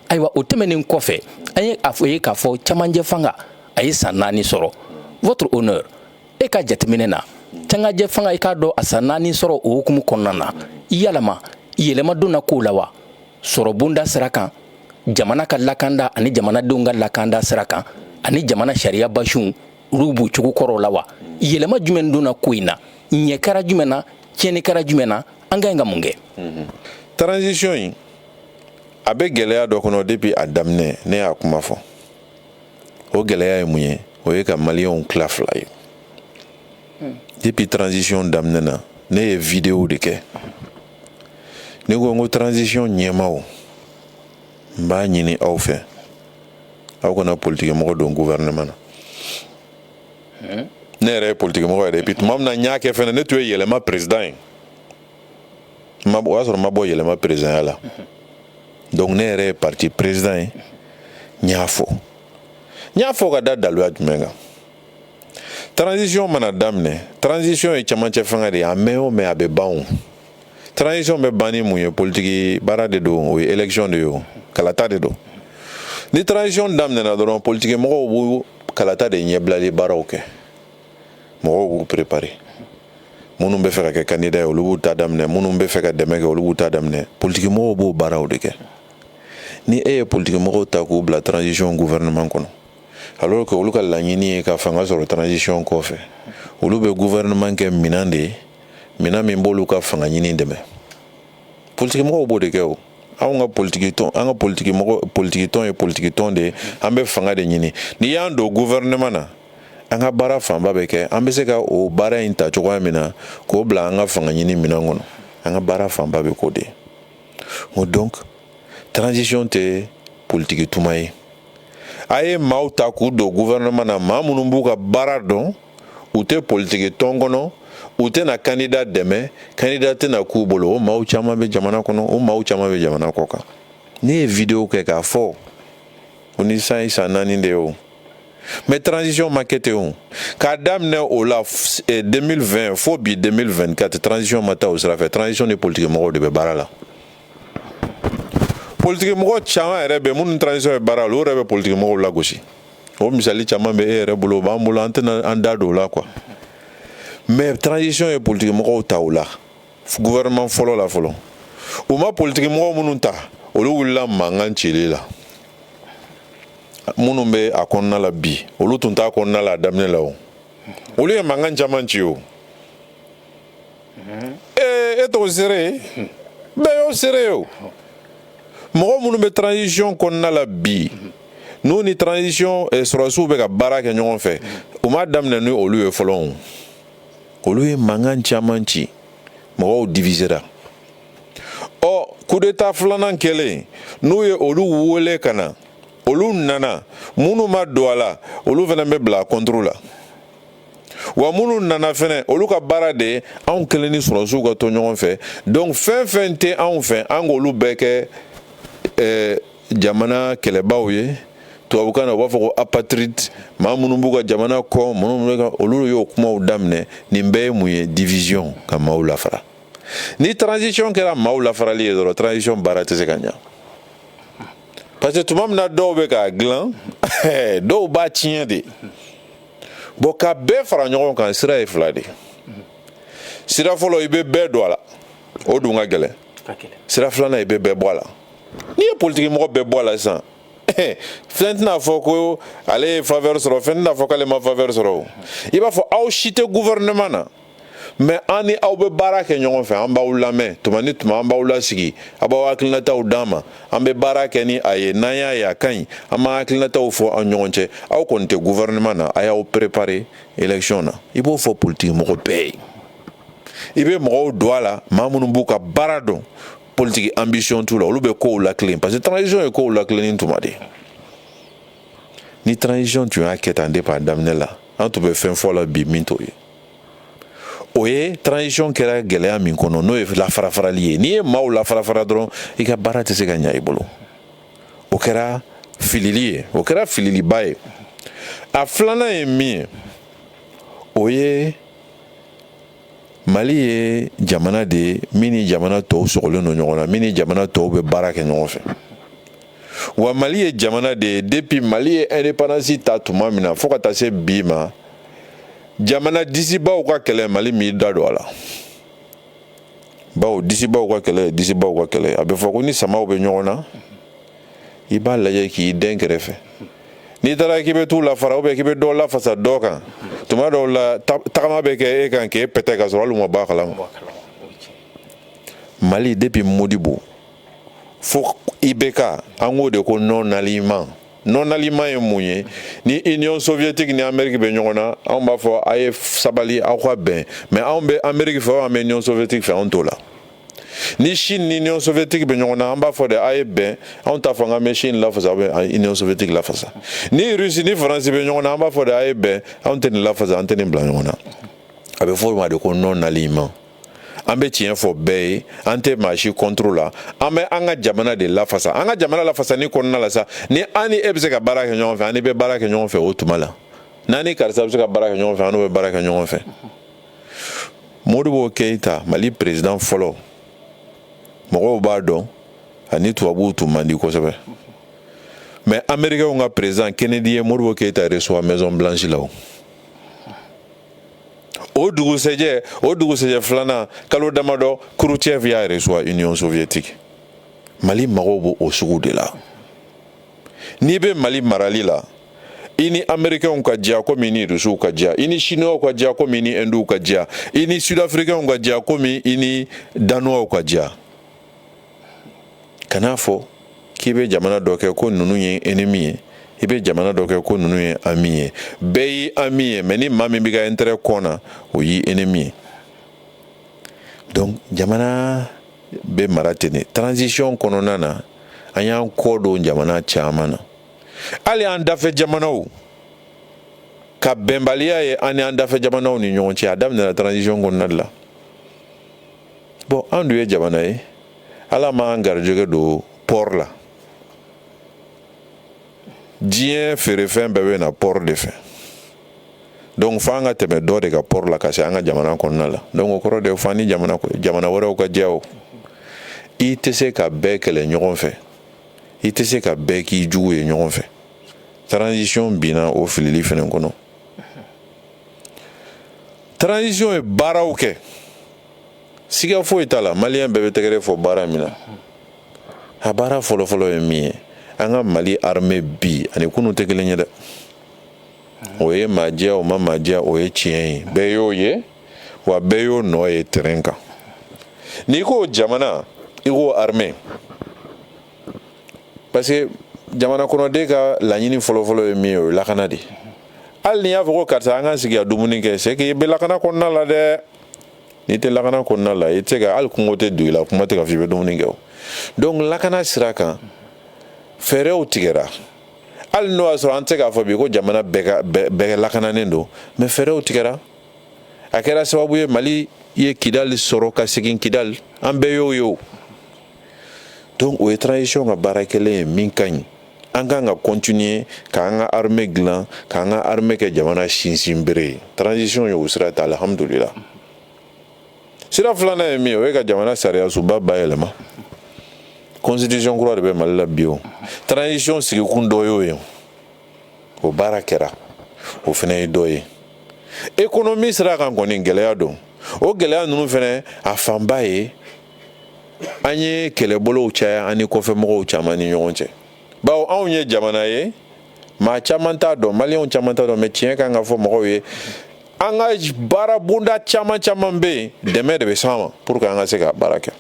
ayiwa o tɛmɛnen kɔfɛ an ye a fɔ ye k'a fɔ cɛmancɛ fanga a ye san naani sɔrɔ votre honneur e ka jateminɛ na cɛmancɛ fanga i k'a dɔn a san naani sɔrɔ o hukumu kɔnɔna na yalama yɛlɛma donna kow la wa sɔrɔ bonda sira kan jamana ka lakanda ani jamanadenw ka lakanda sira kan ani jamana sariya basiw olu b'u cogo kɔrɔw la wa yɛlɛma jumɛn donna ko in na ɲɛ kɛra jumɛn na tiɲɛni kɛra jumɛn na an ka ɲi ka mun kɛ transition in a bɛ gɛlɛya dɔ kɔnɔ depuis a daminɛ ne y'a kuma fɔ o gɛlɛya ye mun ye o ye ka maliyɛnw tila fila ye hmm. depuis transition daminɛna ne ye video de kɛ ne ko n ko transition ɲɛmaaw n b'a ɲini aw fɛ aw kana politikimɔgɔ don gouvernement na hmm. ne yɛrɛ ye politikimɔgɔ yɛrɛ ye puis tuma min na n y'a kɛ fɛnɛ ne tun ye yɛlɛma président ye o y'a sɔrɔ n ma bɔ yɛlɛma président ya la donc ne yɛrɛ ye parti président ye n y'a fɔ n y'a fɔ ka da daluya jumɛn kan transition mana daminɛ transition ye cɛmancɛ fanga de ye a mɛn o mɛn a bɛ ban transition bɛ ban ni mun ye politiki baara de don o ye élection de ye o kalata de don ni transition daminɛna dɔrɔn politiki mɔgɔw b'u kalata de ɲɛbilali baaraw kɛ mɔgɔw b'u perepare minnu bɛ fɛ ka kɛ kandida ye olu b'u ta daminɛ minnu bɛ fɛ ka dɛmɛ kɛ olu b'u ta daminɛ politikimɔgɔw b'o baaraw de kɛ ni e ye politikimɔgɔw ta k'u bila transition gouvernement kɔnɔ alors que olu ka laɲini ye ka fanga sɔrɔ transition kɔfɛ olu bɛ gouvernement kɛ minɛn de ye minɛn min b'olu ka fanga ɲini dɛmɛ politikimɔgɔw b'o de kɛ o anw ka politiki tɔn an ka politiki mɔgɔ politiki tɔn ye politiki tɔn de ye an bɛ fanga de ɲini n'i y'an don gouvernement na an ka baara fanba bɛ kɛ an bɛ se ka o baara in ta cogoya min na k'o bila an ka fanga ɲini minɛn kɔnɔ an ka baara fanba bɛ k'o de ye o donc transition tɛ politiki tuma ye a ye maaw ta k'u don gouvernement na maa minnu b'u ka baara dɔn u tɛ politiki tɔn kɔnɔ u tɛna kandida dɛmɛ kandida tɛna k'u bolo o maaw caman bɛ jamana kɔnɔ o maaw caman bɛ jamana kɔ kan ne ye video kɛ k'a fɔ ko ni san san naani de ye o mais transition ma kɛ ten o k'a daminɛ o la 2020 eh, fo bi 2024 transition ma taa o sira fɛ transition ni politiki mɔgɔw de bɛ baara la politiki mɔgɔ caman yɛrɛ bɛ minnu transition ye baara la olu yɛrɛ bɛ politiki mɔgɔw lagosi o misali caman bɛ e yɛrɛ bolo o b'an bolo an tɛna an da don o la quoi mais transition ye politiki mɔgɔw ta o la gouvernement fɔlɔ la fɔlɔ u ma politiki mɔgɔ minnu ta olu wulila mankan cili la minnu bɛ a kɔnɔna la bi olu tun t'a kɔnɔna la a daminɛ la o olu ye mankan caman ci o ee e t'o seere ye bɛɛ y'o seere ye o mɔgɔ minnu bɛ transition kɔnɔna la bi n'u ni transition eh, sɔrɔsiw bɛ ka baara kɛ ɲɔgɔn fɛ u m'a daminɛ ni olu ye fɔlɔ o olu ye mankan caman ci mɔgɔw divisera ɔ coup d'état filanan kɛlen n'u ye olu wele ka na olu nana minnu ma don a la olu fana bɛ bila contre la wa minnu nana fɛnɛ olu ka baara de ye anw kelen ni sɔrɔsiw ka to ɲɔgɔn fɛ donc fɛn fɛn tɛ anw fɛ an k'olu bɛɛ kɛ eh, jamana kɛlɛbaw ye tubabukan na u b'a fɔ ko apatride maa minnu b'u ka jamana kɔ minnu ka olu y'o kumaw daminɛ nin bɛɛ ye mun ye division ka maaw lafara ni transition kɛra maaw lafarali ye dɔrɔn transition baara tɛ se ka ɲa parce que tuma min na dɔw bɛ k'a dilan dɔw b'a tiɲɛ de bon ka bɛɛ fara ɲɔgɔn kan sira ye fila de sira fɔlɔ i bɛ bɛɛ don a la o dun ka gɛlɛn sira filanan i bɛ bɛɛ bɔ a la n'i ye politiki mɔgɔ bɛɛ bɔ a la sisan fɛn tɛna fɔ ko ale ye faveur sɔrɔ fɛn tɛna fɔ k'ale ma faveur sɔrɔ o i b'a fɔ aw si tɛ gouvernement na mais an ni aw bɛ baara kɛ ɲɔgɔn fɛ an b'aw lamɛn tuma ni tuma an b'aw lasigi a b'aw hakilinataw d'an ma an bɛ baara kɛ ni a ye n'an y'a ye a ka ɲi an b'an hakilinataw fɔ an ɲɔgɔn cɛ aw kɔni tɛ gouvernement na a y'aw préparer élection na i b'o fɔ politiki mɔgɔ bɛɛ ye i bɛ mɔgɔw don a la maa minnu b'u ka baara dɔn politiki ambition t'u la olu bɛ kow latilen parce que transition ye kow latilenni tuma de ni transition tun y'a kɛ tan depuis a daminɛ la an tun bɛ fɛn fɔ la bi min t'o ye o ye transition kɛra gɛlɛya min kɔnɔ n'o ye lafarafarali ye n'i ye maaw lafarafara dɔrɔn i ka baara tɛ se ka ɲa i bolo o kɛra filili ye o kɛra fililiba ye a filanan ye min ye o ye mali ye jamana de min ni jamana tɔw sɔgɔlen don ɲɔgɔn na min ni jamana tɔw bɛ baara kɛ ɲɔgɔn fɛ wa mali ye jamana de ye depuis mali ye indépendance ta tuma min na fo ka taa se bi ma jamana disibaw ka kɛlɛ mali m'i da don a la bawo disibaw ka kɛlɛ disibaw ka kɛlɛ a bɛ fɔ ko ni samaw bɛ ɲɔgɔn na i b'a lajɛ k'i den kɛrɛfɛ n'i taara k'i bɛ t'u lafara ou bien k'i bɛ dɔ lafasa dɔ kan tuma dɔw la tagama bɛ kɛ e kan k'e pɛtɛ ka sɔrɔ hali u ma bɔ a kalama mali depuis modibo fo ibk an k'o de ko non alignement non alignement ye mun ye ni union soviétique ni amérique bɛ ɲɔgɔn na anw b'a fɔ a ye sabali aw ka bɛn mais anw bɛ amérique fɛ an bɛ union soviétique fɛ anw t'o la ni chine ni union soviétique bɛ ɲɔgɔn na an b'a fɔ de a ye bɛn anw t'a fɔ an ka mɛ chine lafasa bɛ union soviétique lafasa ni russie ni faransi bɛ ɲɔgɔn na an b'a fɔ de a ye bɛn anw tɛ nin lafasa an tɛ nin bila ɲɔgɔn na a bɛ fɔ o ma de ko non alignement an bɛ tiɲɛ fɔ bɛɛ ye an tɛ maa si contre la an bɛ an ka jamana de lafasa an ka jamana lafasani kɔnɔna la sa ni an ni e bɛ se ka baara kɛ ɲɔgɔn fɛ an n'i bɛ baara kɛ ɲɔgɔn fɛ o tuma la n'an ni karisa bɛ se ka baara kɛ ɲɔgɔn fɛ an n'o bɛ baara kɛ ɲɔgɔn fɛ modibo keyita mali perezidan fɔlɔ mɔgɔw b'a dɔn a ni tubabuw tun man di kosɛbɛ mais amerikɛnw ka perezidan kennedy ye modibo keyita reçoit maison blanche la o dugusɛjɛ o dugusɛjɛ filanan kalo damadɔ khrouchtchev y'a reçoit union soviétique mali mago b'o o sugu de la n'i bɛ mali marali la i ni amerikɛnw ka diya komi i ni rusiw ka diya i ni siniwaw ka diya komi i ni indiw ka diya i ni sudafirikɛnw ka diya komi i ni danuwaw ka diya kan'a fɔ k'i bɛ jamana dɔ kɛ ko ninnu ye ennemi ye i bɛ jamana dɔ kɛ ko ninnu ye ami ye bɛɛ y'i ami ye mais ni maa min b'i ka intérêt kɔn na o y'i ennemi ye donc jamana bɛ mara ten de transition kɔnɔna na an y'an kɔ don jamana caman na hali an dafɛ jamanaw ka bɛnbaliya ye an ni an dafɛ jamanaw ni ɲɔgɔn cɛ a daminɛna transition kɔnɔna de la bon an dun ye jamana ye ala m'an garijɛgɛ don port la diɲɛ feerefɛn bɛɛ bɛ na port de fɛ donc fo an ka tɛmɛ dɔ de ka port la ka se an ka jamana kɔnɔna la donc o kɔrɔ de fo an ni jamana wɛrɛw ka jɛ o i tɛ se ka bɛɛ kɛlɛ ɲɔgɔn fɛ i tɛ se ka bɛɛ k'i jugu ye ɲɔgɔn fɛ transition binna o filili fɛnɛ kɔnɔ transition ye baaraw kɛ siga foyi t'a la maliyɛn bɛɛ bɛ tɛgɛrɛ fɔ baara min na a baara fɔlɔfɔlɔ ye min ye an ka mali armée bi ani kunu tɛ kelen ye dɛ o ye maa diya o ma maa diya o ye tiɲɛ ye bɛɛ y'o ye wa bɛɛ y'o nɔ ye terrain kan n'i ko jamana i ko armée parce que jamana kɔnɔden ka laɲini fɔlɔfɔlɔ ye min ye o ye lakana de hali n'i y'a fɔ ko karisa an ka sigi ka dumuni kɛ c'est que i bɛ lakana kɔnɔna la dɛ n'i tɛ lakana kɔnɔna la i tɛ se ka hali kɔngɔ tɛ don i la kuma tɛ k'a fɔ i bɛ dumuni kɛ o donc lakana sira kan fɛɛrɛw tigɛra hali n'o y'a sɔrɔ an tɛ se k'a fɔ bi ko jamana bɛɛ ka bɛɛ lakananen don mais fɛɛrɛw tigɛra a kɛra sababu ye mali ye kidali sɔrɔ ka segin kidali an bɛɛ y'o ye o donc o ye transition ka baara kɛlen ye min ka ɲi an kan ka continuer k'an ka armée dilan k'an ka armée kɛ jamana sinsinbere ye transition y'o sira ta alhamdulila sira filanan ye min ye o ye ka jamana sariyasunba bayɛlɛma constitution kura de bɛ mali la bi o transition sigikun dɔ y'o ye o baara kɛra o fɛnɛ ye dɔ ye économie sira kan kɔni gɛlɛya don o gɛlɛya ninnu fɛnɛ a fanba ye an ye kɛlɛbolow caya an ni kɔfɛmɔgɔw caman ni ɲɔgɔn cɛ bawo anw ye jamana ye maa caman t'a dɔn maliyɛnw caman t'a dɔn mais tiɲɛ kan ka fɔ mɔgɔw ye an ka baarabonda caman caman bɛ yen dɛmɛ de bɛ s'an ma pour que an ka se ka baara kɛ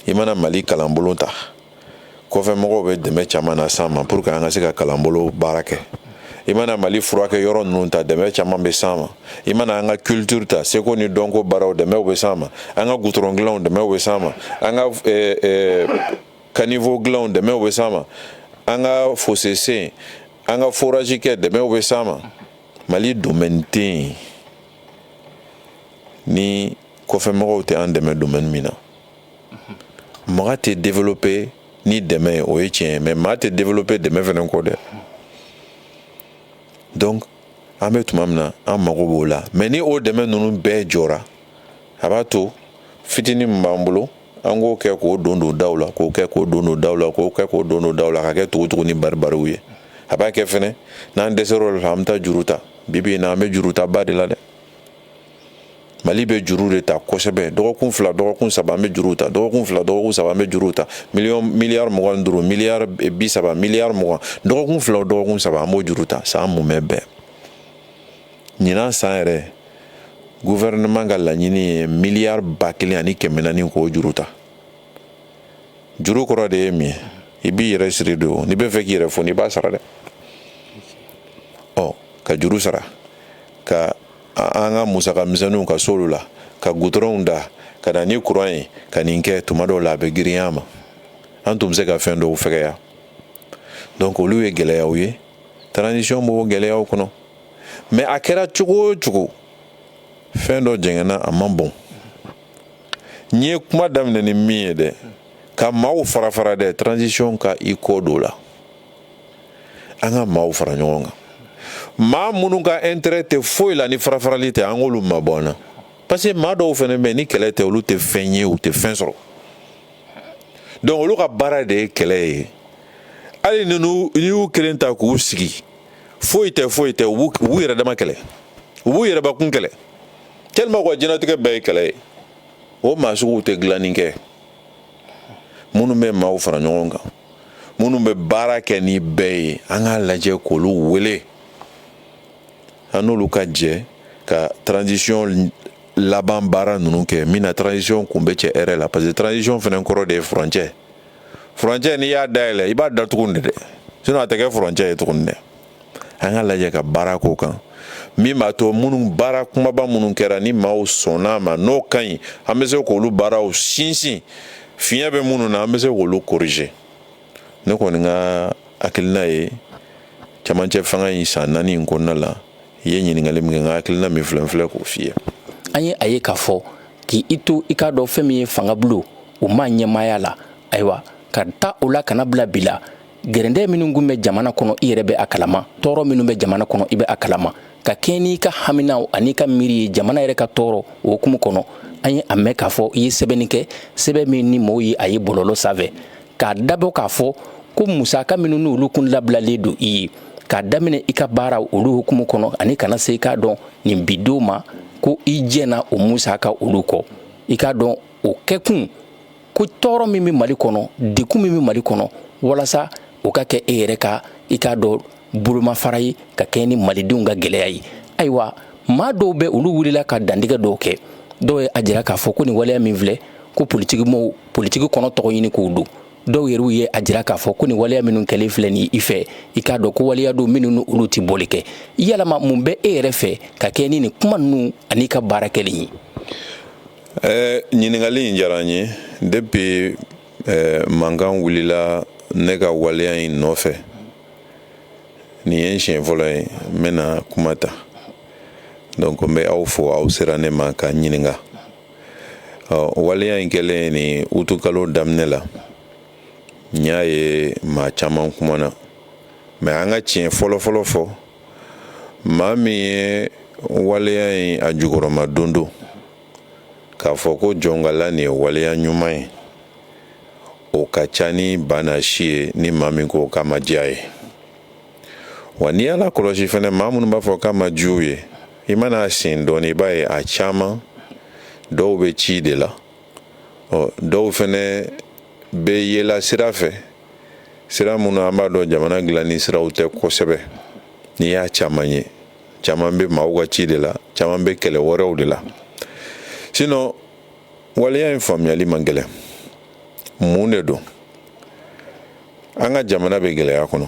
i mana mali kalanbolo ta kɔfɛmɔgɔw bɛ dɛmɛ caman nas'an ma pour que an ka se ka kalanbolo baara kɛ i mana mali furakɛ yɔrɔ ninnu ta dɛmɛ caman bɛ s'an ma i mana an ka culture ta seko ni dɔnko baaraw dɛmɛw bɛ s'an ma an ka gutɔrɔn dilanw dɛmɛw bɛ s'an ma an ka eh, eh, caniveau dilanw dɛmɛw bɛ s'an ma an ka fossé sen an ka forage kɛ dɛmɛw bɛ s'an ma mali domaine tɛ yen ni kɔfɛmɔgɔw tɛ an dɛmɛ domaine min na mɔgɔ tɛ développer ni dɛmɛ ye o ye tiɲɛ ye mais maa tɛ développer dɛmɛ fɛnɛ kɔ dɛ donc an bɛ tuma min na an mago b'o la mais ni o dɛmɛ ninnu bɛɛ jɔra a b'a to fitinin min b'an bolo an k'o kɛ k'o don don daw la k'o kɛ k'o don don daw la k'o kɛ k'o don don daw la ka kɛ tugu tugu ni baribariw ye a b'a kɛ fɛnɛ n'an dɛsɛr'o la an bɛ taa juru ta bi bi in na an bɛ jurutaba de la dɛ mali bɛ juru de ta kosɛbɛ dɔgɔkun fila dɔgɔkun saba an bɛ juru ta dɔgɔkun fila dɔgɔkun saba an bɛ juru ta miliyari mugan ni duuru miliyari bi saba miliyari mugan dɔgɔkun fila dɔgɔkun saba an b'o juru ta san mumɛ bɛɛ ɲinan san yɛrɛ gouvernement ka laɲini ye miliyari ba kelen ani kɛmɛ naani ni kɔ juru ta juru kɔrɔ de ye min ye i b'i yɛrɛ siri de o n'i b'a fɛ k'i yɛrɛ foni i b'a sara dɛ ɔ ka juru sara ka an ka musaka misɛnninw ka s'olu la ka gutɔrɔnw da ka na ni kuran ye ka nin kɛ tuma dɔw la a bɛ girinya mais an tun bɛ se ka fɛn dɔw fɛgɛya donc olu ye gɛlɛyaw ye transition b'o gɛlɛyaw kɔnɔ mais a kɛra cogo o cogo fɛn dɔ jɛngɛnna a man bon n ye kuma daminɛ ni min ye dɛ ka maaw fara fara dɛ transition ka i kɔ don o la an ka maaw fara ɲɔgɔn kan maa minnu ka intérêt tɛ foyi la ni farafarali tɛ an k'olu mabɔ an na parce que maa dɔw fɛnɛ bɛ yen ni kɛlɛ tɛ olu tɛ fɛn ye u tɛ fɛn sɔrɔ donc olu ka baara de ye kɛlɛ ye hali ninnu n'i y'u kelen ta k'u sigi foyi tɛ foyi tɛ u b'u yɛrɛ dama kɛlɛ u b'u yɛrɛbakun kɛlɛ tellement u ka diɲɛnatigɛ bɛɛ ye kɛlɛ ye o maa suguw tɛ dilanni kɛ minnu bɛ maaw fara ɲɔgɔn kan minnu bɛ baara kɛ ni bɛɛ ye an k'a lajɛ k'olu wele an n'olu ka jɛ ka transition laban baara ninnu kɛ min na transition kun bɛ cɛ hɛrɛ la parce que transition fɛnɛ kɔrɔ de ye furancɛ furancɛ n'i y'a dayɛlɛ i b'a datugu de dɛ sinon a tɛ kɛ furancɛ ye tuguni dɛ an k'a lajɛ ka baara k'o kan min b'a to minnu baara kumaba minnu kɛra ni maaw sɔnn'a ma n'o ka ɲi an bɛ se k'olu baaraw sinsin fiɲɛ bɛ minnu na an bɛ se k'olu corriger ne kɔni ka hakilina ye camancɛ fanga in san naani in kɔnɔna la i ye ɲininkali min kɛ n ka hakilina min filɛ n filɛ k'o f'i ye an ye a ye k'a fɔ k'i i to i k'a dɔn fɛn min ye fanga bulon o ma ɲɛmaaya la ayiwa k'a ta o la ka n'a bila bi la gɛrɛndɛ minnu kun bɛ jamana kɔnɔ i yɛrɛ bɛ a kalama tɔɔrɔ minnu bɛ jamana kɔnɔ i bɛ a kalama ka kɛɲɛ n'i ka haminaw an'i ka miiri ye jamana yɛrɛ ka tɔɔrɔ o hukumu kɔnɔ an ye a mɛn k'a fɔ i ye sɛbɛnni kɛ sɛbɛn min ni mɔgɔw ye a ye bɔlɔlɔ sanfɛ k'a dabɔ k'a fɔ ko musaka minnu n'olu kun labilalen don i ye k'a daminɛ i ka baara olu hukumu kɔnɔ ani ka na se i k'a dɔn nin bi don ma ko i jɛna o musaka olu kɔ i k'a dɔn o kɛkun ko tɔɔrɔ min bɛ mali kɔnɔ degun min bɛ mali kɔnɔ walasa o ka kɛ e yɛrɛ ka i k'a dɔn bolomafara ye ka kɛɲɛ ni malidenw ka gɛlɛya ye ayiwa maa dɔw bɛ olu wulila ka dantigɛ dɔw kɛ dɔw ye a jira k'a fɔ ko nin waleya min filɛ ko politiki kɔnɔ tɔgɔɲini ko don dɔw yɛrɛw ye a jira k'a fɔ ko nin waleya minnu kɛlen filɛ nin i fɛ i k'a dɔn ko waleya don minnu ni olu tɛ bɔli kɛ yalama mun bɛ e yɛrɛ fɛ ka kɛɲɛ ni nin kuma ninnu an'i ka baara kɛlen ye ɛɛ ɲininkali in diyara n ye depuis ɛɛ mankan wulila ne ka waleya in nɔfɛ nin ye n siɲɛ fɔlɔ ye n bɛna kuma ta donc n bɛ aw fo aw sera ne ma ka n ɲininka ɔ waleya in kɛlen nin utikalo daminɛ la n y'a ye maa caman kumana mais an ka tiɲɛ fɔlɔfɔlɔ fɔ maa min ye waleya in a jukɔrɔmadondon k'a fɔ ko jɔnkala nin ye waleya ɲuman ye o ka ca ni banna si ye ni maa min ko k'a ma diy'a ye wa n'i y'a lakɔlɔsi fɛnɛ maa minnu b'a fɔ k'a ma diy'u ye i man'a sen dɔɔnin i b'a ye a caman dɔw bɛ ci de la ɔ dɔw fɛnɛ bɛ yela sira fɛ sira minnu an b'a dɔn jamana dilanni siraw tɛ kosɛbɛ n'i y'a caman ye caman bɛ maaw ka ci de la caman bɛ kɛlɛ wɛrɛw de la sinɔn waleya in faamuyayali man gɛlɛn mun de don an ka jamana bɛ gɛlɛya kɔnɔ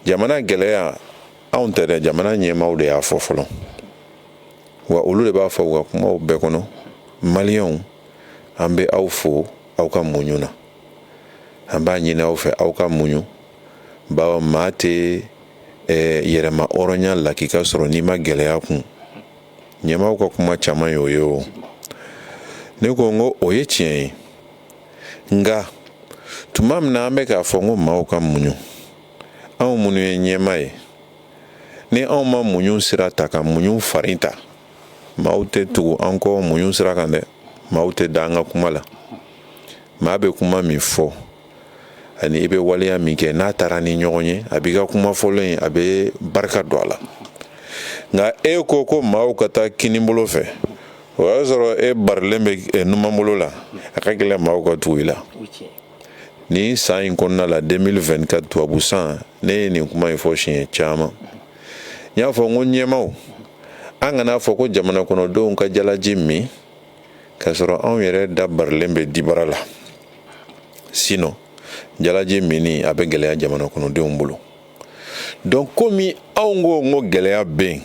jamana gɛlɛya anw tɛ dɛ jamana ɲɛmaaw de y'a fɔ fɔlɔ wa olu de b'a fɔ u ka kumaw bɛɛ kɔnɔ maliyɛnw an bɛ aw fo aw ka muɲu na an b'a ɲini aw fɛ aw ka muɲu bawo maa tɛ yɛrɛma hɔrɔnya la k'i ka sɔrɔ n'i ma gɛlɛya kun ɲɛmaaw ka kuma caman ye o ye o ne ko n ko o ye tiɲɛ ye nka tuma min na an bɛ k'a fɔ n ko maaw ka muɲu anw minnu ye ɲɛmaa ye ni anw ma muɲu sira ta ka muɲu farin ta maaw tɛ tugu an kɔ muɲu sira kan dɛ maaw tɛ da an ka kuma la maa bɛ kuma min fɔ ani i bɛ waleya min kɛ n'a taara ni ɲɔgɔn ye a b'i ka kuma fɔlɔ in a bɛ barika don a la nka e ko ko maaw ka taa kinibolo fɛ o y'a sɔrɔ e barilen bɛ numanbolo la a ka gɛlɛn maaw ka tugu i la nin san in kɔnɔna la 2024 tubabu san ne ye nin kuma in fɔ siɲɛ caman n y'a fɔ n ko ɲɛmaaw an kana fɔ ko jamana kɔnɔdenw ka jalaji min k'a sɔrɔ anw yɛrɛ da barilen bɛ dibara la sinɔn jalaji minni a bɛ gɛlɛya jamana kɔnɔdenw bolo donc komi anw ko n ko gɛlɛya bɛ yen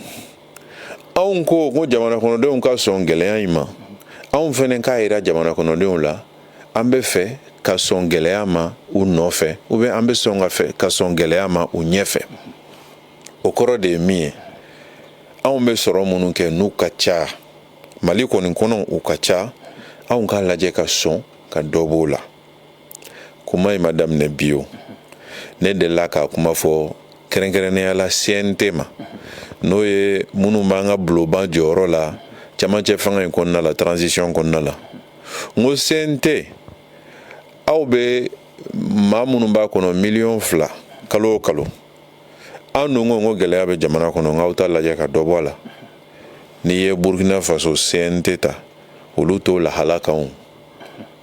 anw ko n ko jamana kɔnɔdenw ka sɔn gɛlɛya in ma anw fɛnɛ k'a yira jamana kɔnɔdenw la an bɛ fɛ ka sɔn gɛlɛya ma u nɔfɛ ou bien an bɛ sɔn ka fɛ ka sɔn gɛlɛya ma u ɲɛfɛ o kɔrɔ de ye min ye anw bɛ sɔrɔ minnu kɛ n'u ka ca mali kɔni kɔnɔ u ka ca anw k'a lajɛ ka sɔn ka dɔ b'o la kuma in ma daminɛ bi o ne delila ka kuma fɔ kɛrɛnkɛrɛnnenya la cnt ma n'o ye minnu b'an ka bulonba jɔyɔrɔ la camancɛ fanga in kɔnɔna la tranzisiyɔn kɔnɔna la n ko cnt aw bɛ maa minnu b'a kɔnɔ miliyɔn fila kalo o kalo an dun ko n ko gɛlɛya bɛ jamana kɔnɔ n k'aw t'a lajɛ ka dɔ bɔ a la n'i ye burukina faso cnt ta olu t'o lahala kan o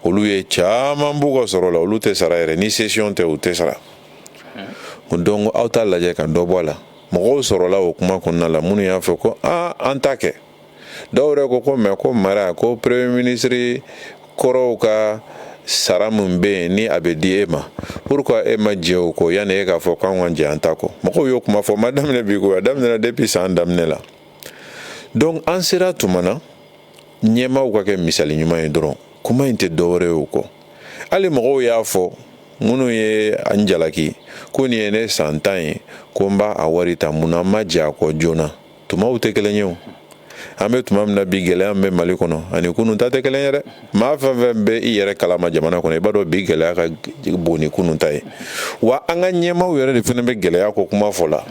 olu ye caman b'u ka sɔrɔ la olu tɛ sara yɛrɛ ni sesiyɔn tɛ u tɛ sara donc aw t'a lajɛ ka dɔ bɔ a la mɔgɔw sɔrɔla o kuma kɔnɔna la minnu y'a fɔ ko aa an ta kɛ dɔw yɛrɛ ko ko mais ko mara ko premier ministre kɔrɔw ka sara min bɛ yen ni a bɛ di e ma pourquoi e ma jɛ o kɔ yanni e k'a fɔ k'an ka jɛ an ta kɔ mɔgɔw y'o kuma fɔ ma daminɛ bi ko a daminɛna depuis san daminɛ la donc an sera tuma na ɲɛmaaw ka kɛ misali ɲuman ye dɔrɔn kuma in tɛ dɔwɛrɛ ye o kɔ hali mɔgɔw y'a fɔ minnu ye an jalaki ko nin ye ne san tan ye ko n b'a a wari ta mun na an ma jɛ a kɔ joona tumaw tɛ kelen ye an bɛ tuma min na bi gɛlɛya min bɛ mali kɔnɔ ani kunun ta tɛ kelen ye dɛ maa fɛn fɛn bɛ i yɛrɛ kalama jamana kɔnɔ i b'a dɔn bi gɛlɛya ka bon ni kunun ta ye wa an ka ɲɛmaaw yɛrɛ de fana bɛ gɛlɛya ko kuma fɔ la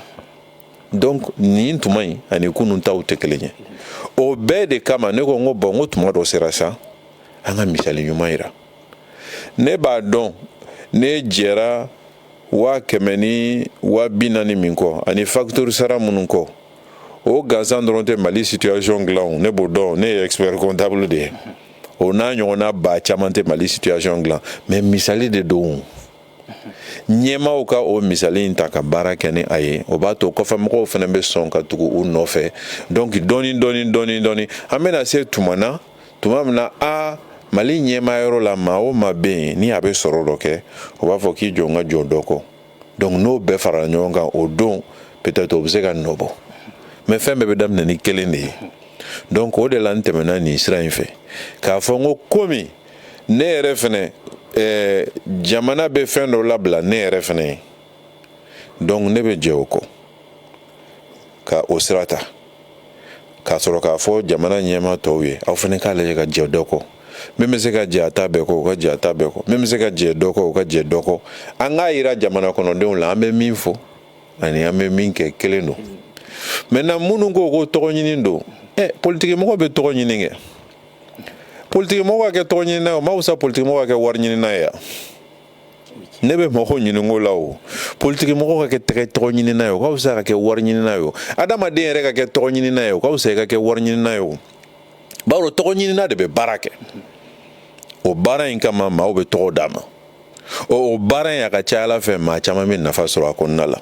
donc nin tuma in ani kunun taw tɛ kelen ye o bɛɛ de kama ne ko n ko bon n ko tuma dɔ sera sa an ka misali ɲuman yira ne b'a dɔn ne jɛra waa kɛmɛ ni waa bi naani min kɔ ani facture sara minnu kɔ o gansan dɔrɔn tɛ mali situation dilan ne b'o dɔn ne ye expert comptable de ye o n'a ɲɔgɔnna ba caman tɛ mali situation dilan mais misali de don ɲɛmaaw ka o misali in ta ka baara kɛ ni a ye o b'a to kɔfɛ mɔgɔw fana bɛ sɔn ka tugu u nɔfɛ donc dɔɔni dɔɔni dɔɔni dɔɔni an bɛna se tuma na tuma min na a mali ɲɛmaa yɔrɔ la maa o maa bɛ yen ni a bɛ sɔrɔ dɔ kɛ o b'a fɔ k'i jɔ n ka jɛ o dɔ kɔ donc n'o bɛɛ farala ɲɔgɔn kan o don peut-être o bɛ se ka nɔ bɔ mais fɛn bɛɛ bɛ daminɛ ni kelen de ye donc o de la n tɛmɛna nin sira in fɛ k'a fɔ n ko komi ne yɛrɛ fɛnɛ eh, jamana bɛ fɛn dɔ labila ne yɛrɛ fɛnɛ ye donc ne bɛ jɛ o kɔ ka o sira ta k'a sɔrɔ k'a fɔ jamana ɲɛmaa tɔw ye aw fɛnɛ k'a lajɛ ka jɛ dɔ kɔ min bɛ se ka jɛ a ta bɛɛ kɔ o ka jɛ a ta bɛɛ kɔ min bɛ se ka jɛ dɔ kɔ o ka jɛ dɔ kɔ an k'a yira jamana kɔnɔdenw la an bɛ min fɔ ani an bɛ min kɛ kelen don maintenant minnu ko ko tɔgɔ ɲini don ɛ politigimɔgɔ bɛ tɔgɔ ɲini kɛ politigimɔgɔ ka kɛ tɔgɔ ɲinina ye o ma wusa politigimɔgɔ ka kɛ wari ɲinina ye ne bɛ mɔgɔw ɲinink'o la o politigimɔgɔ ka kɛ tɛgɛ tɔgɔ ɲinina ye o ka wusa ka kɛ wari ɲinina ye o adamaden yɛrɛ ka kɛ tɔgɔ ɲinina ye o ka wusa i ka kɛ wari ɲinina ye o bawo tɔgɔ ɲinina de bɛ baara kɛ o baara in kama maaw bɛ tɔgɔ d'a ma o baara in a ka ca ala fɛ maa caman bɛ nafa sɔrɔ a kɔnɔna la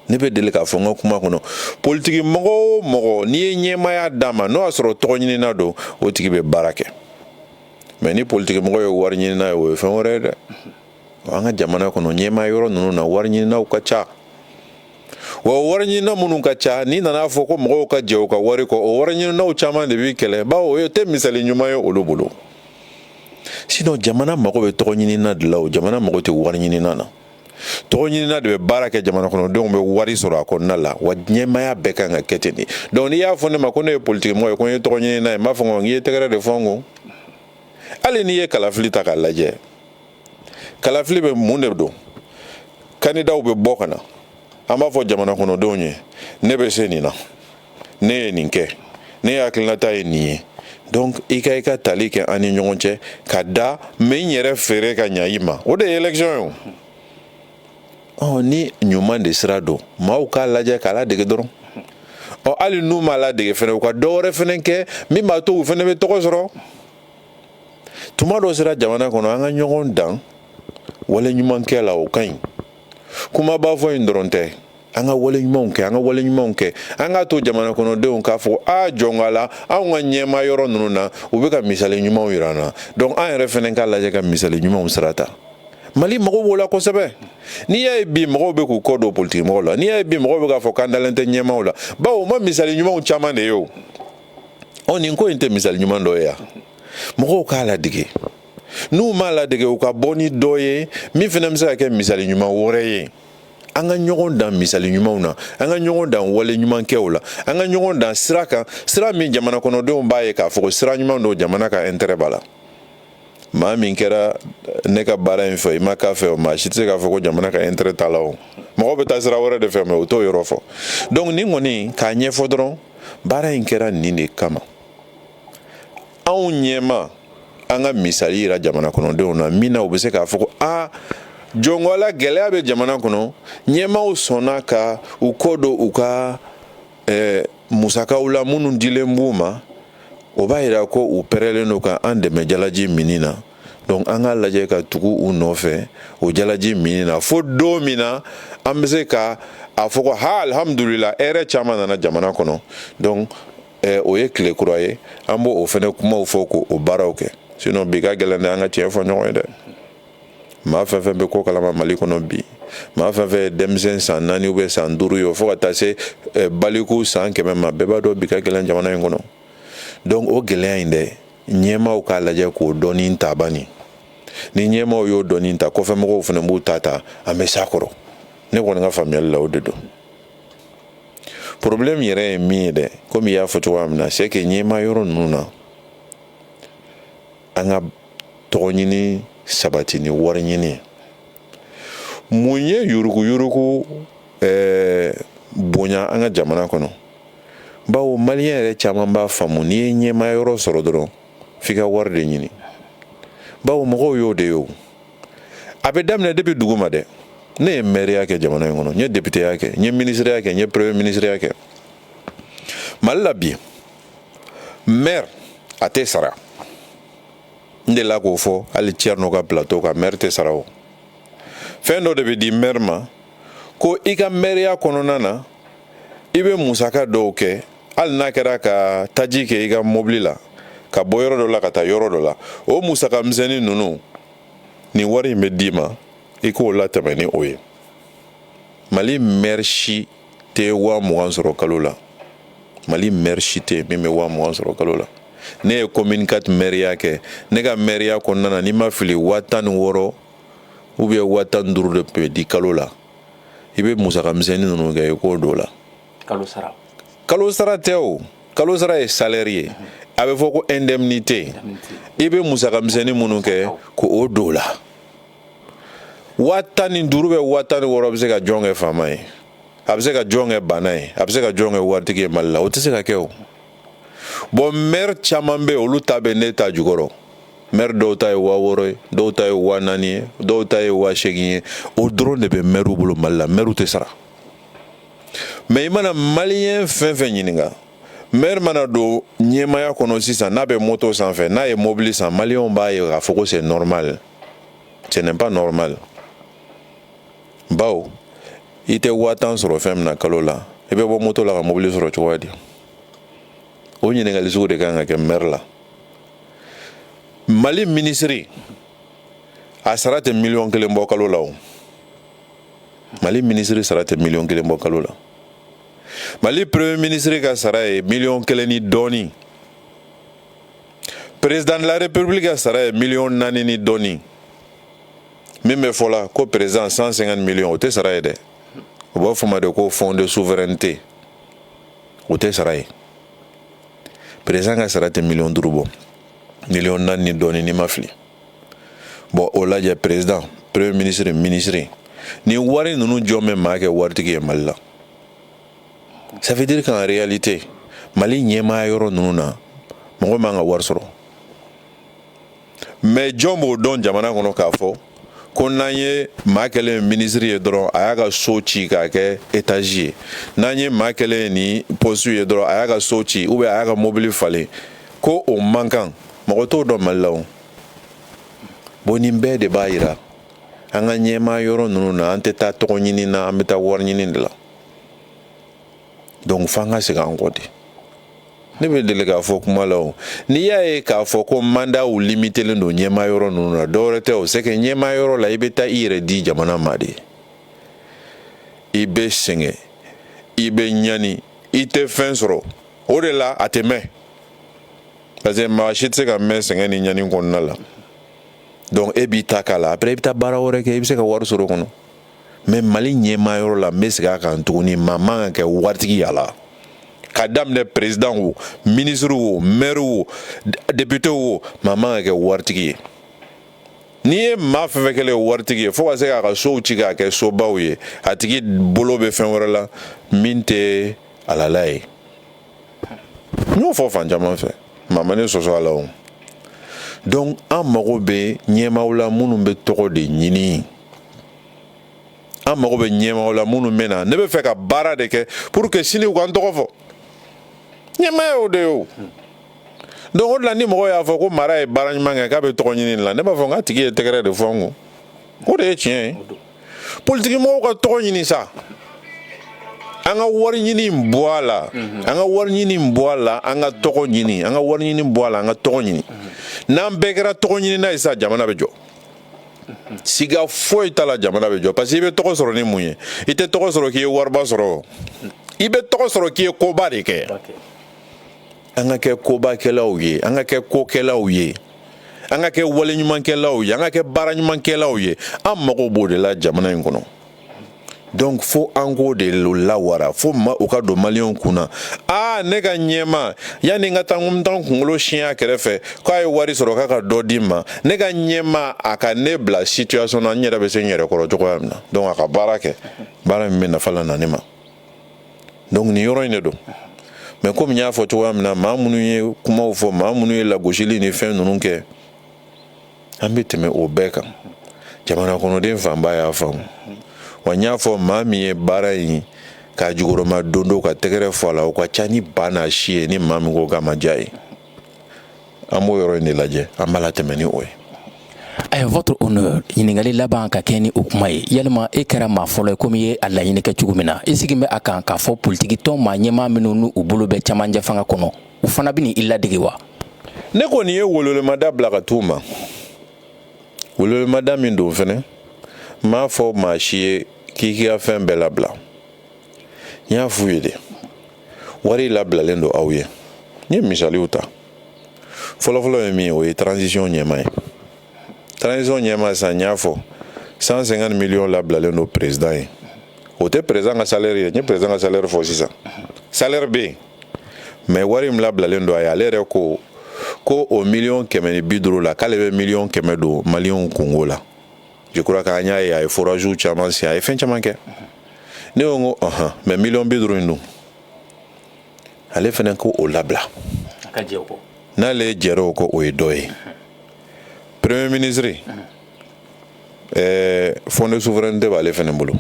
ne bɛ deli k'a fɔ n ka kuma kɔnɔ politigi mɔgɔ o mɔgɔ n'i ye ɲɛmaaya d'a ma n'o y'a sɔrɔ tɔgɔ ɲinina don o tigi bɛ baara kɛ mais ni politigimɔgɔ ye wari ɲinina ye o ye fɛn wɛrɛ ye dɛ an ka jamana kɔnɔ ɲɛmaa yɔrɔ ninnu na wari ɲininaw ka ca wa wari ɲinina minnu ka ca n'i nana a fɔ ko mɔgɔw ka jɛ u ka wari kɔ o wari ɲininaw caman de b'i kɛlɛ bawo o tɛ misali ɲuman ye olu bolo sinon jamana mago bɛ tɔgɔ ɲinina de la o jamana mago tɛ wari ɲinina na tɔgɔ ɲinina de bɛ baara kɛ jamana kɔnɔdenw bɛ wari sɔrɔ a kɔnɔna la wa ɲɛmaya bɛɛ kan ka kɛ ten de donc n'i y'a fɔ ne ma ko ne ye politikimɔgɔ ye ko n ye tɔgɔ ɲinina ye n b'a fɔ ko n ye tɛgɛrɛ de fɔ n kɔ hali n'i ye kalafili ta k'a lajɛ kalafili bɛ mun de don kandidaw bɛ bɔ ka na an b'a fɔ jamana kɔnɔdenw ye ne bɛ se nin na ne ye nin kɛ ne ye hakilinata ye nin ye donc i ka i ka tali kɛ an ni ɲɔgɔn cɛ ka da n bɛ n yɛrɛ feere ka ɲa i ma o de ye élection ye o ɔ ni ɲuman de sira don maaw k'a lajɛ k'a ladege dɔrɔn ɔ hali n'u m'a ladege fɛnɛ u ka dɔ wɛrɛ fɛnɛ kɛ min b'a to u fɛnɛ bɛ tɔgɔ sɔrɔ tuma dɔ sera jamana kɔnɔ an ka ɲɔgɔn dan wale ɲumankɛ la o ka ɲi kumaba fɔ in dɔrɔn tɛ an ka wale ɲumanw kɛ an ka wale ɲumanw kɛ an k'a to jamana kɔnɔdenw k'a fɔ a jɔn ko ala anw ka ɲɛma yɔrɔ ninnu na u bɛ ka misali ɲumanw yira an na donc an yɛrɛ fɛnɛ k'a lajɛ ka misali ɲumanw sira ta mali mago b'o la kosɛbɛ n'i y'a ye bi mɔgɔw bɛ k'u kɔ don politikimɔgɔw la n'i y'a ye bi mɔgɔw bɛ k'a fɔ k'an dalen tɛ ɲɛmaw la bawo u ma misali ɲumanw caman de ye o ɔ nin ko in tɛ misali ɲuman dɔ ye yan mɔgɔw k'a ladege n'u m'a ladege u ka bɔ ni dɔ ye min fɛnɛ bɛ se ka kɛ misali ɲuman wɛrɛ ye an ka ɲɔgɔn dan misali ɲumanw na an ka ɲɔgɔn dan wale ɲumankɛw la an ka ɲɔgɔn dan sira kan sira min jamana kɔnɔdenw b'a ye k'a fɔ ko sira ɲuman don jamana ka intérêt b'a la maa min kɛra ne ka baara in fɛ i ma k'a fɛ o maa si tɛ se k'a fɔ ko jamana ka intérêt t'a la o mɔgɔ bɛ taa sira wɛrɛ de fɛ mais u t'o yɔrɔ fɔ donc nin kɔni k'a ɲɛfɔ dɔrɔn baara in kɛra nin de kama anw ɲɛma an ka misali yira jamana kɔnɔdenw na min na u bɛ se k'a fɔ ko aa jɔn ko ala gɛlɛya bɛ jamana kɔnɔ ɲɛmaaw sɔnna ka u kɔ don u ka eh, musakaw la minnu dilen b'u ma o b'a yira ko u pɛrɛlen don ka an dɛmɛ jalaji minni na donc an ka lajɛ ka tugu u nɔfɛ o jalaji minni na fo don min na an bɛ se ka a fɔ ko ha alhamdulila hɛrɛ caman nana jamana kɔnɔ donc ɛ o ye tile kura ye an b'o fɛnɛ kumaw fɔ k'o baaraw kɛ sinon bi ka gɛlɛn dɛ an ka tiɲɛ fɔ ɲɔgɔn ye dɛ maa fɛn fɛn bɛ ko kalama mali kɔnɔ bi maa fɛn fɛn ye denmisɛn san naani ou bien san duuru ye fo ka taa se baliku san kɛmɛ ma bɛɛ b'a dɔn bi ka gɛlɛn jamana in kɔnɔ donc o gɛlɛya in dɛ ɲɛmaaw k'a lajɛ k'o doni ta bani ni ɲɛmaaw y'o doni ta kɔfɛmɔgɔw fɛnɛ b'u ta ta an bɛ s'a kɔrɔ ne kɔni ka faamuyali la o de don problème yɛrɛ ye min ye dɛ komi i y'a fɔ cogoya min na c'est que ɲɛma yɔrɔ ninnu na an ka tɔgɔ ɲini sabati ni wari ɲini mun ye yuruguyurugu eh, bonya an ka jamana kɔnɔ bawo maliyɛn yɛrɛ caman b'a faamu n'i ye ɲɛma yɔrɔ sɔrɔ dɔrɔn f'i ka wari de ɲini bawo mɔgɔw y'o de ye o a bɛ daminɛ depuis duguma dɛ ne ye mɛriya kɛ jamana in kɔnɔ n ye depiteya kɛ n ye minisiriya kɛ n ye premier minisiriya kɛ mali la bi mɛri a tɛ sara n delila k'o fɔ hali cɛrino ka plateau kan mɛri tɛ sara o fɛn dɔ de bɛ di mɛri ma ko i ka mɛriya kɔnɔna na i bɛ musaka dɔw kɛ hali n'a kɛra ka taji kɛ i ka mobili la ka bɔ yɔrɔ dɔ la ka taa yɔrɔ dɔ la o musaka misɛnnin ninnu nin wari in bɛ d'i ma i k'o latɛmɛ ni o ye mali mɛri si tɛ waa mugan sɔrɔ kalo la mali mɛri si tɛ min bɛ waa mugan sɔrɔ kalo la ne ye commune quatre mɛriya kɛ ne ka mɛriya kɔnɔna na ni n ma fili waa tan ni wɔɔrɔ ou bien waa tan ni duuru de tun bɛ di kalo la i bɛ musaka misɛnnin ninnu kɛ i k'o don o la kalo sara kalo sara tɛ o kalo sara ye salɛri ye a bɛ fɔ ko indemnité i bɛ musaka misɛnnin minnu kɛ k'o don o la waa tan ni duuru bɛ waa tan ni wɔɔrɔ bɛ se ka jɔn kɛ faama ye a bɛ se ka jɔn kɛ baana ye a bɛ se ka jɔn kɛ waritigi ye mali la o tɛ se ka kɛ o bɔn mɛri caman bɛ yen olu ta bɛ ne ta jukɔrɔ mɛri dɔw ta ye waa wɔɔrɔ ye dɔw ta ye waa naani ye dɔw ta ye waa seegin ye o dɔrɔn de bɛ mɛriw bolo mali la mɛriw tɛ sara mais i mana maliyɛn fɛn fɛn ɲininka mɛri mana don ɲɛmaaya kɔnɔ sisan n'a bɛ moto sanfɛ n'a ye mobili san maliyɛnw b'a ye k'a fɔ ko c'est normal ce n'est pas normal bawo i tɛ waa tan sɔrɔ fɛn min na kalo la i bɛ bɔ moto la ka mobili sɔrɔ cogoya di o ɲininkali sugu de kan ka kɛ mɛri la mali minisiri a sara tɛ miliyɔn kelen bɔ kalo la o mali minisiri sara tɛ miliyɔn kelen bɔ kalo la mali premier minisiri ka sara ye miliyɔn kelen ni dɔɔni président de la république ka sara ye miliyɔn naani ni dɔɔni min bɛ fɔ la ko président 150 miliyɔn o tɛ sara ye dɛ u b'a f'o ma de ko fond de souveraineté o tɛ sara ye président ka sara tɛ miliyɔn duuru bɔ miliyɔn naani ni dɔɔni ni n ma fili bɔn o lajɛ président premier minisiri minisiri ni wari ninnu jɔn bɛ maa kɛ waritigi ye mali la ça veut dire qu'en réalité mali ɲɛmaaya yɔrɔ ninnu na mɔgɔ man ka wari sɔrɔ mais jɔn b'o dɔn jamana kɔnɔ k'a fɔ ko n'an ye maa kɛlen ye minisiri ye dɔrɔn a y'a ka so ci k'a kɛ étage ye n'an ye maa kelen ye ni poste ye dɔrɔn a y'a ka so ci ou bien a y'a ka mobili falen ko o man kan mɔgɔ t'o dɔn mali la o bon nin bɛɛ de b'a yira an ka ɲɛmaa yɔrɔ ninnu na an tɛ taa tɔgɔ ɲini na an bɛ taa wari ɲini de la donc f'an ka segin an kɔ de ne bɛ deli k'a fɔ kuma la o n'i y'a ye k'a fɔ ko mandaw limitelen don ɲɛmaa yɔrɔ ninnu na dɔwɛrɛ tɛ o c'est que ɲɛmaa yɔrɔ la i bɛ taa i yɛrɛ di jamana ma de i bɛ sɛgɛn i bɛ ɲani i tɛ fɛn sɔrɔ o de la a tɛ mɛn parce que maa si tɛ se ka mɛn sɛgɛn ni ɲani kɔnɔna la donc e b'i ta k'a la après i bɛ taa baara wɛrɛ kɛ i bɛ se ka wari sɔrɔ o kɔnɔ mais mali ɲɛmaa yɔrɔ la n bɛ segin a kan tuguni maa man kan ka kɛ waritigi y'a la ka daminɛ président wo ministre wo maire wo député wo maa man kan ka kɛ waritigi ye n'i ye maa fɛn fɛn kɛlen ye waritigi ye fo ka se k'a ka sow ci k'a kɛ sobaw ye a tigi bolo bɛ fɛn wɛrɛ la min tɛ halala ye n y'o fɔ fan caman fɛ maa ma ne sɔsɔ a la o donc an mago bɛ ɲɛmaaw la minnu bɛ tɔgɔ de ɲini an mago bɛ ɲɛmaaw la minnu bɛ na ne bɛ fɛ ka baara de kɛ pour que sini u ka n tɔgɔ fɔ ɲɛmaa y'o de ye o donc o de la ni mɔgɔ y'a fɔ ko mara ye baara ɲuman kɛ k'a bɛ tɔgɔ ɲini la ne b'a fɔ n k'a tigi ye tɛgɛrɛ de fɔ n kun o de ye tiɲɛ ye. politikimɔgɔw ka tɔgɔ ɲini sa an ka wari ɲini in bɔ a la mhm. an ka wari ɲini in bɔ a la an ka tɔgɔ ɲini an ka wari ɲini bɔ a la an ka tɔgɔ ɲini mhm. n'an bɛɛ kɛra tɔgɔɲinina ye sa jamana bɛ jɔ mhm. siga foyi t'a la jamana bɛ jɔ parce que i bɛ tɔgɔ sɔrɔ ni mun ye i tɛ tɔgɔ sɔrɔ k'i ye wariba sɔrɔ i bɛ tɔgɔ sɔrɔ k'i ye koba de kɛ an ka kɛ kobakɛlaw ye an ka kɛ kokɛlaw ye an ka kɛ waleɲumankɛlaw ye an ka kɛ baara ɲumankɛlaw ye an mago b'o de la jamana in kɔnɔ donc fo an k'o de lawara fo o ka don maliyɛnw kun na aa ne ka ɲɛmaa yanni n ka taa n taa n kunkolo siyɛn a kɛrɛfɛ k'a ye wari sɔrɔ k'a ka dɔ di n ma ne ka ɲɛmaa a ka ne bila situation na n yɛrɛ bɛ se n yɛrɛ kɔrɔ cogoya min na donc a ka baara kɛ baara min bɛ nafa lana n ma donc nin yɔrɔ in de don mais komi n y'a fɔ cogoya min na maa minnu ye kumaw fɔ maa minnu ye lagosili ni fɛn ninnu kɛ an bɛ tɛmɛ o bɛɛ kan jamana kɔnɔden fanba y'a faamu wa n y'a fɔ maa min ye baara in k'a jukɔrɔmadon o ka tɛgɛrɛ fɔ a la o ka ca ni ba n'a si ye ni maa min ko k'a ma diya a ye an b'o yɔrɔ in de lajɛ an b'a latɛmɛ ni o ye a votre honneur ɲininkakali laban ka kɛɲɛ ni o kuma ye yalima e kɛra maa fɔlɔ ye komi i ye a laɲini kɛ cogo min na i sigilen bɛ a kan k'a fɔ politikitɔn maa ɲɛmaa minnu n'u bolo bɛ camancɛ fanga kɔnɔ u fana bɛna i ladege wa ne kɔni ye wololemada bila ka t'u ma wololemada min don fana n m'a fɔ maa si ye k'i k'i ka fɛn bɛɛ labila n y'a f'u ye de wari labilalen don aw ye n ye misaliw ta fɔlɔfɔlɔ ye min ye o ye transition ɲɛmaa ye transition ɲɛmaa sisan n y'a fɔ 150 millions labilalen don président ye o tɛ président ka salaire ye n ye président ka salaire fɔ sisan salaire bɛ yen mais wari min labilalen don a ye ale yɛrɛ ko ko o miliyɔn kɛmɛ ni bi duuru la k'ale bɛ miliyɔn kɛmɛ don maliyɛnw kunko la Jikura k'an y'a ye a ye furajw caman si a ye fɛn caman kɛ ne ko ko hɔn mɛ mi bɛ duuru in don ale fana ko o labila n'ale ye jɛ o ko o ye dɔ ye peree minisiriri ɛɛ fɔ ne su wɛrɛ tɛ b'ale ale fana bolo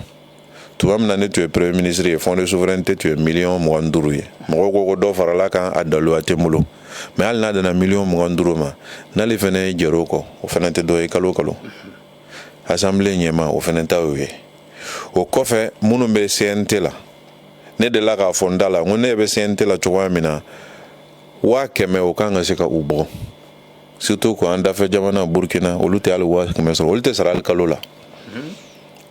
tuma min na ne tun ye premier ministre ye fond de souveraineté tun ye miliyɔn mugan ni duuru ye mɔgɔw ko ko dɔ faral'a kan a daluya tɛ n bolo mais hali n'a dana miliyɔn mugan duuru ma n'ale fɛnɛ jɛr'o kɔ o fɛnɛ tɛ dɔ ye kalo kalo assemblée ɲɛmaa o fɛnɛ ta y'o ye o kɔfɛ minnu bɛ cnt la ne delila k'a fɔ n da la n ko ne bɛ cnt la cogoya min na waa kɛmɛ o kan ka se ka u bɔ surtout ko an dafɛ jamana burukina olu tɛ hali waa kɛmɛ sɔrɔ olu tɛ sara hali kalo la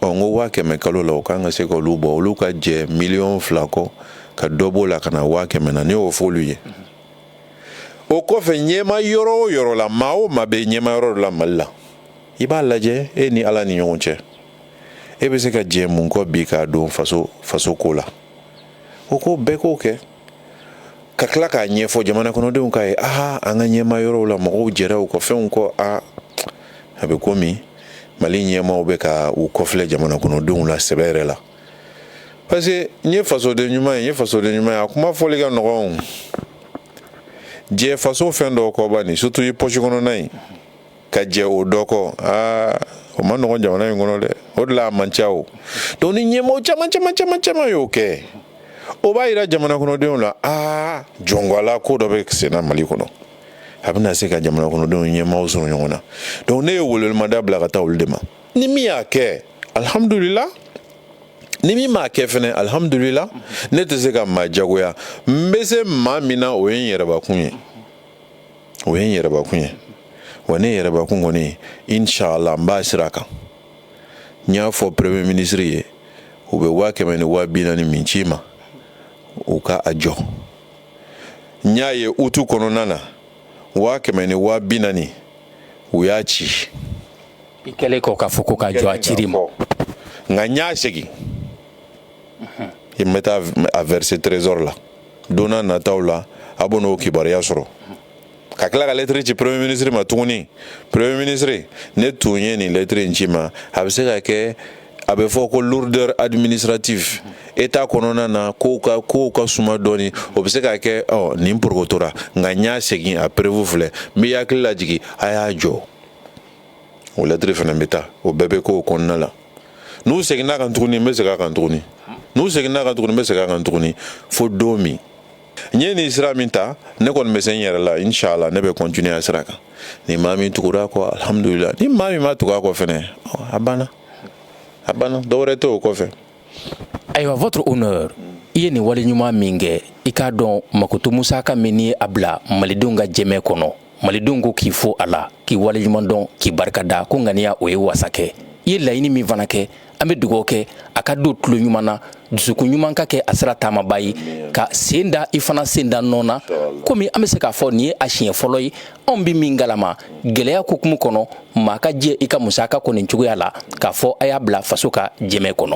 ɔ n ko waa kɛmɛ kalo la o kan ka se ka olu bɔ olu ka jɛ miliyɔn fila kɔ ka dɔ b'o la ka na waa kɛmɛ na ne y'o fɔ olu ye o kɔfɛ ɲɛmaa yɔrɔ o yɔrɔ la maa o maa bɛ ɲɛmaa yɔrɔ dɔ la mali la i b'a lajɛ e ni ala ni ɲɔgɔn cɛ e bɛ se ka jɛ mun kɔ bi k'a don faso faso ko la o ko bɛɛ k'o kɛ ka tila k'a ɲɛfɔ jamana kɔnɔdenw k'a ye aa an ka ɲɛmaa yɔrɔw la mɔgɔw jɛra u ka fɛnw kɔ a a bɛ komi mali ɲɛmaaw bɛ ka u kɔfilɛ jamana kɔnɔdenw la sɛbɛ yɛrɛ la parce que n ye fasoden ɲuman ye n ye fasoden ɲuman ye a kuma fɔli ka nɔgɔn jɛ faso fɛn dɔw kɔ bani surtout i pɔsi kɔnɔna in ka jɛ o dɔ kɔ aa o ma nɔgɔ jamana in kɔnɔ dɛ o de la a man ca o donc ni ɲɛmɔgɔ caman caman caman caman y'o kɛ o b'a yira jamana kɔnɔdenw la aa jɔngɔla ko dɔ bɛ senna mali kɔnɔ a bɛna se ka jamana kɔnɔdenw ɲɛmɔgɔ sɔrɔ ɲɔgɔn na donc ne ye welemada bila ka taa olu de ma ni min y'a kɛ alhamdulila ni min m'a kɛ fɛnɛ alhamdulila ne tɛ se ka maa jagoya n bɛ se maa min na o ye n yɛrɛbakun ye o ye n yɛrɛbakun ye wa ne yɛrɛbakun kɔni inshallah n b'a sira kan n y'a fɔ premier ministre ye u bɛ waa kɛmɛ ni waa bi naani min ci n ma u ka a jɔ n y'a ye utu kɔnɔna na waa kɛmɛ ni waa bi naani u y'a ci n kɛlen kɔ k'a fɔ ko k'a jɔ a cira n ma nka n y'a segin n bɛ taa a verser trésor la don nataw la a bɛ n'o kibaruya sɔrɔ ka tila ka lɛtiri ci premier ministre ma tuguni premier ministre ne tun ye nin lɛtiri in ci ma a bɛ se ka kɛ a bɛ fɔ ko lourdeur administrative état kɔnɔna na kow ka suma dɔɔnin o bɛ se k'a kɛ nin porokotora nka n y'a segin a preuve filɛ n bɛ hakili lajigin a y'a jɔ o lɛtiri fana bɛ taa o bɛɛ bɛ k'o kɔnɔna la n'u seginna kan tuguni n bɛ segin a kan tuguni fo don min n ye nin sira min ta ne kɔni bɛ se n yɛrɛ la inshallah ne bɛ continuer a sira kan ni maa min tugura a kɔ alhamdulillah ni maa min ma tugu a kɔ fɛnɛ a banna dɔwɛrɛ tɛ o kɔfɛ ayiwa votre honneur i ye nin wale ɲuman min kɛ i k'a dɔn makoto musaka min i y'a bila malidenw ka jɛmɛ kɔnɔ malidenw ko k'i fo a la k'i waleɲuman dɔn k'i barika da ko ŋaniya o ye wasa kɛ i ye laɲini min fana kɛ an bɛ dugaw kɛ a ka don tulo ɲuman na dusukun ɲuman ka kɛ a sira taamaba ye k'a sen da i fana sen da nɔ na komi an bɛ se k'a fɔ nin ye a siɲɛ fɔlɔ ye anw bɛ min galama gɛlɛya kokumu kɔnɔ maa ka jɛ i ka musaka kɔ nin cogoya la k'a fɔ a y'a bila faso ka jɛmɛ kɔnɔ